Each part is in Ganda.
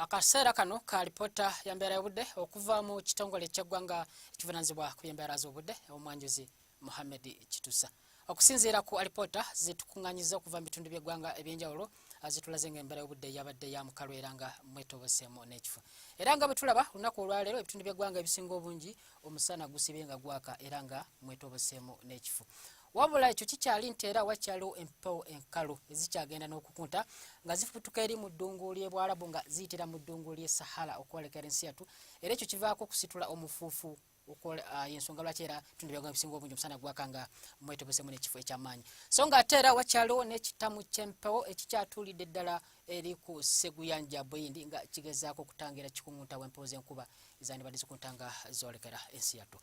akaseera kano ka lipoota ya mbeera y'obudde okuva mu kitongole ky'eggwanga ekivunanyizibwa ku byembeera z'obudde omwanjuzi muhammed kitusa okusinziira ku alipoota zitukuŋŋanyiza okuva mu bitundu by'eggwanga eby'enjawulo zitulaze nga embeera y'obudde yabadde ya mukalu era nga mwetoboseemu n'ekifo era nga bwetulaba olunaku olwaleero ebitundu by'eggwanga ebisinga obungi omusana gusibye nga gwaka era nga mwetoboseemu n'ekifo wabula ekyo kikyali nti era wakyaliwo empewo enkalu ezikyagenda n'okukunta nga zifutuka eri mu ddungu ly'ebwarabu nga ziyitira mu ddungu ly'e sahara okwolekera ensi yattu era ekyo kivaako okusitula omufuufu Ah, yensonga lwaki era tunda ebyagwa ebisinga obungi omusana gwaka nga mwetobesemu nekifo ekyamaanyi so nga ate era wakyaliwo nekitamu kyempewo ekikyatulidde ddala eri ku Seguyanja Buyindi nga kigezaako okutangira kikungunta w'empewo z'enkuba ezandibadde zikuntanga zoolekera ensi yattu.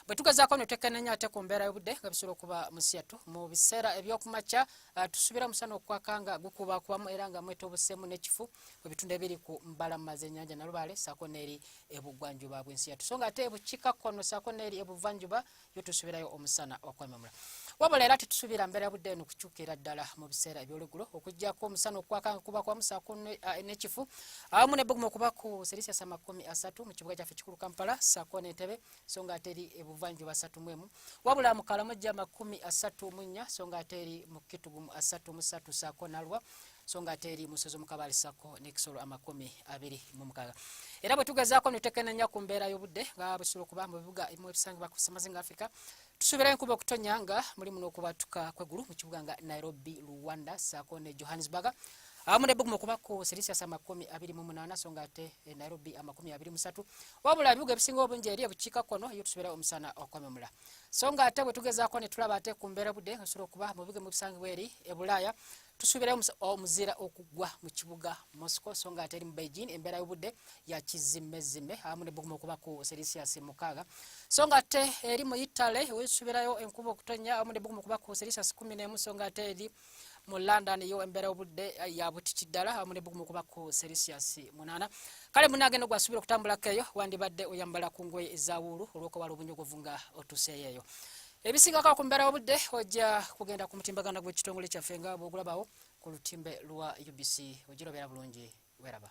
Bwe tugezaako no twekenneenya ate ku mbeera y'obudde nga bisobola okuba mu nsi yattu mu biseera eby'okumakya ah, tusuubira omusana okwaka nga gukubakubamu era nga mwetobuseemu n'ekifu mu bitundu ebiri ku mbalama z'ennyanja Nalubaale ssaako n'eri ebuggwanjuba bw'ensi yattu so nga ate ebukiikakkono ssaako n'eri ebuvanjuba yo tusubirayo omusana okwememula wabula era tetusuubira mbeera budde eno kukyukira ddala mu biseera ebyolugulo okuggyako omusana okwaka nga kuba kwamusaako n'ekifu awamu nebbugumu okuba ku selisiyasi amakumi asatu mu kibuga kyaffe kikulu kampala saako n'entebe so nga ate eri ebuvanjuba asatu mu emu wabula mu kalamojja amakumi asatu mu nnya so nga ate eri mu kitugumu asatu mu satu saako nalwa so nga ate eri musozi omukabaali sako nekisolo amakumi abiri mu mukaga era bwe tugezaako nutekenenya ku mbeera y'obudde nga bwesula okuba mu bibuga ebimu ebisangibwa ku semazinga africa tusuubirayo enkuba okutonya nga mulimu n'okubatuka kwegulu mu kibuga nga nairobi rwanda sako ne johannesburg awamu ne bugumu okuba ku celsius amakumi abiri mu munaana so nga ate eh, nairobi amakumi abiri musatu wabula ebibuga ebisinga obungi eri ebukiika kono yo tusuubira omusana okwememula so nga ate bwe tugezaako ne tulaba ate ku mbeera budde osobola okuba mu bibuga mu bisangibwa eri ebulaaya tusuubira omuzira okugwa mu kibuga moscow so nga ateri mu beijing embeera y'obudde yakizimmezime awamu ne buguma okuba ku celsius mukaaga so nga ate eri mu italy wesuubirayo enkuba okutonya awamu ne buguma okuba ku celsius kumi n'emu so nga ate eri mu london yo embeera obudde eh, yabutiti ddala awamu ne bugumu kuba ku celsius munaana kale munaagenda ogwasuubira okutambulako eyo wandibadde oyambala ku ngoye ezawuulu olw'okubala obunyogovu nga otuseeyo eyo ebisingako ku mbeera y'obudde ojja kugenda ku mutimbagano gw'ekitongole kyaffe nga bw'ogulabawo ku lutimbe lwa UBC ogirobera bulungi weraba